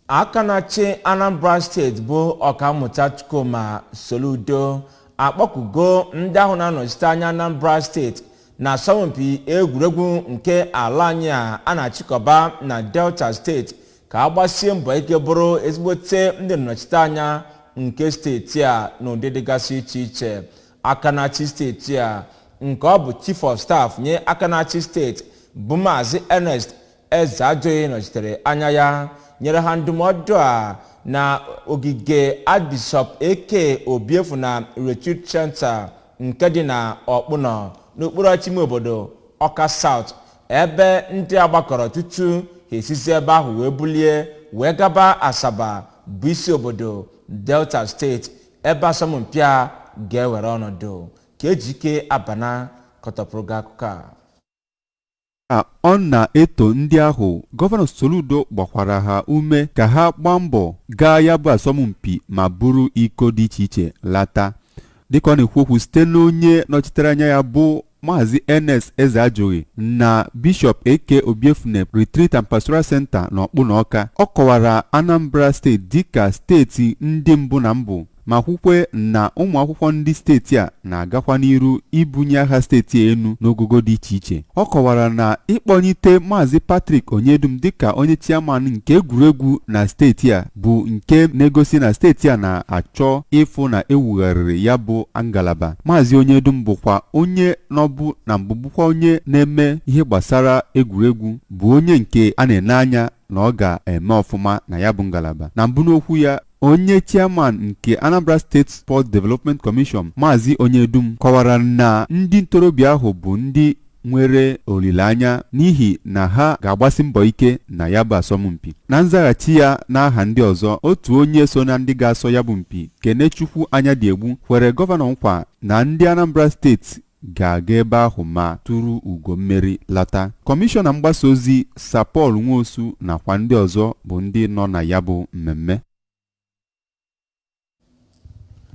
aka na-achị anambra steeti bụ ọkammụta chukwuma soludo akpọkugo ndị ahụ na-anọchite anya anambra steeti na asọmpi egwuregwu nke ala anyị a a na-achịkọba na delta steeti ka ha gbasie mbọ ike bụrụ ezigbote ndị nnọchite anya nke steeti a n'ụdị dịgasị iche iche aka na-achị steeti a nke ọ bụ chief of staff nye aka na-achị steeti bụ maazị ernest ezeajụghị nọchitere anya ya nyere ha ndụmọdụ a na ogige Archbishop A.K. obiefuna Retreat Center nke dị na ọkpụnọ n'okpuru ọchịchị ime obodo ọka South ebe ndị a gbakọrọ tutu ha esizi ebe ahụ wee bulie wee gaba asaba bụ isi obodo delta steeti ebe asọmpi a ga-ewere ọnọdụ ka ejike abana kọtọpụrụ gị akụkọ a ka ọ na-eto ndị ahụ gọvanọ Soludo gbakwara ha ume ka ha gbaa mbọ gaa ya bụ asọmpi ma buru iko dị iche iche lata dịka ọ na-ekwu okwu site n'onye nọchitere anya ya bụ Maazị Ernest Ezeajụghị na Bishọp A.K. Obiefuna Retreat and Pastoral Center na Ọkpụnọ Ọka ọ kọwara Anambra steeti dịka steeti ndị mbụ na mbụ ma kwukwe na ụmụakwụkwọ ndị steeti a na-agakwa n'iru ibunye aha steeti a enu n'ogogo dị iche iche ọ kọwara na ịkpọnyite Maazị Patrick Onyedum dịka onye chiaman nke egwuregwu na steeti a bụ nke na-egosi na steeti a na-achọ ịfụ na ewugharịrị ya bụ ngalaba Maazị Onyedum bụkwa onye nọbu na mbụ bụkwa onye na-eme ihe gbasara egwuregwu bụ onye nke a na-ene anya na ọ ga-eme ọfụma na ya bụ ngalaba na mbụ n'okwu ya Onye chairman nke Anambra State Sports Development Commission Maazị Onyedum kọwara na ndị ntorobịa ahụ bụ ndị nwere olileanya n'ihi na ha ga-agbasi mbọ ike na ya bụ asọmpi na nzaghachi ya n'aha ndị ọzọ otu onye so na ndị ga-asọ ya bụ mpi Kenechukwu Anyadiegbu kwere gọvanọ nkwa na ndị Anambra steeti ga-aga ebe ahụ ma turu ugo mmeri lata. Kọmishọna mgbasa ozi Sir Paul Nwosu nakwa ndị ọzọ bụ ndị nọ na ya bụ mmemme.